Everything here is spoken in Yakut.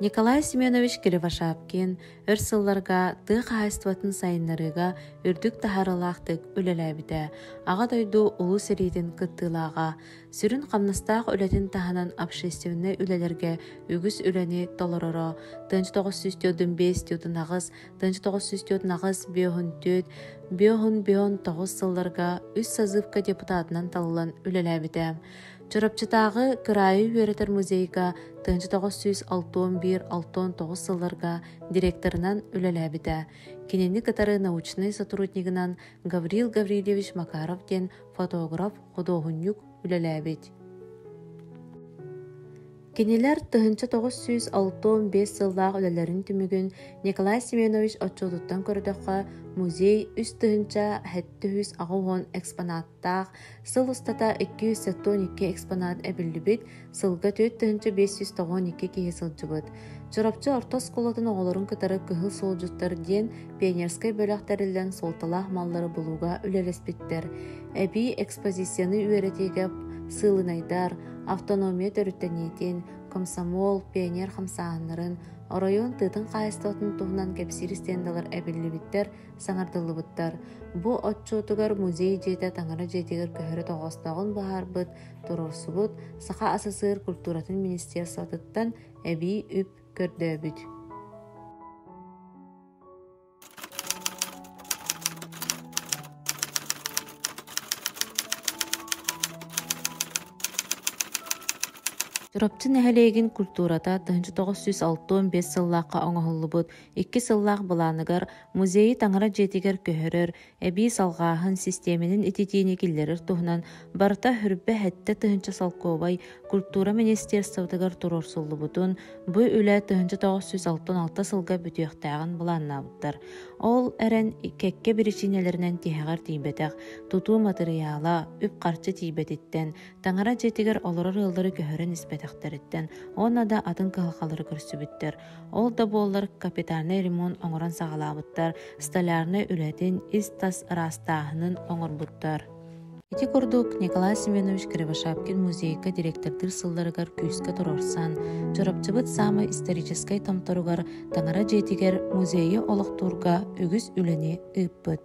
Николай Семенович Кривошапкин өр сылларга тыа хаһаайыстыбатын сайыннарыыга үрдүк таһаарылаахтык үлэлээбитэ Аҕа дойду Улуу сэриитин кыттыылааҕа, сүрүн хамнастаах үлэтин таһынан общественнай үлэлэргэ үгүс үлэни толороро, тыһыынча тоҕус сүүс түөртүн биэс түөртүн аҕыс, тыһыынча тоҕус сүүс түөртүн аҕыс биоһун түөрт, биоһун биоһун тоҕус сылларга үс сазывка депутатынан талылан үлэлээбитэ. Чурапчытааҕы кыраайы үөрэтэр музейга тыһыынча тоҕус сүүс алтыан биир алтыан тоҕус сылларга директорынан үлэлээбитэ. Кинини кытары научнай сотруднигынан Гаврил Гаврильевич Макаров диэн фотограф, худуоһунньук үлэлээбит. Кинилэр тыһыынча тоҕус сүүс алтыан биэс сыллаах үлэлэрин түмүгүн Николай Семенович отчуотуттан көрдөххө, музей үс тыһыынча сэттэ сүүс аҕа уон экспонат таах сыл устата икки жүз сотуон икки экспонат эбиллибит, сылга түөрт тыһыынча биэс сүүс тоҕуон икки киһи сылдьыбыт. Чурапчы орто оскуолатын оҕолорун кытары кыһыл суолдьуттар диэн пионерскай бөлөх тэриллэн суолталаах маллары булууга үлэлэспиттэр. Эбии экспозицияны үөрэтиигэ сыылынайдар, автономия төрүттэниитин, комсомол, пионер хамсааһыннарын, оройуон тыытын хаайыстыбатын туһунан кэпсиир стендалар эбиллибиттэр, Саҥардыллыбыттар. Бу отчуотугар музей дьиэтэ таҥара дьиэтигэр көһөрө тоҕоостоҕун быһаарбыт, туруорсубут Саха СССР культуратын министерствотыттан эбии үп көрдөөбүт. Чурапчы нэһилиэгин культурата 1965 сыллаахха оҥоһуллубут Икки сыллаах былааныгар музейы таҥара дьиэтигэр көһөрөр, эбии салҕааһын систиэмэтин ититиини киллэрэр туһунан барыта үрбэх эттэ тыһыынча солкуобай культура министерствотыгар туруорсуллубутун, бу үлэ тыһыынча тоҕус сүүс алтан алта сылга бүтүөхтээҕин былааннаабыттар. Ол эрэн кэккэ биричиинэлэринэн тиһэҕэр тиийбэтэх тутуу матырыйаала үп-харчы тиийбэтиттэн, таҥара дьиэтигэр олорор ыаллары көһөрөн испэтэхтэриттэн уонна да атын кыһалҕалары көрсүбүттэр. Ол да буоллар капитальнай ремонт оҥорон саҕалаабыттар, столярнай үлэтин, ис-тас ыраастааһынын оҥорбуттар. Ити курдук Николай Семенович Кривошапкин музейга директордыыр сылларыгар күүскэ туруорсан, Чурапчыбыт саамай историческай томторугар Таҥара дьиэтигэр музейы олохтуурга үгүс үлэни ыыппыт.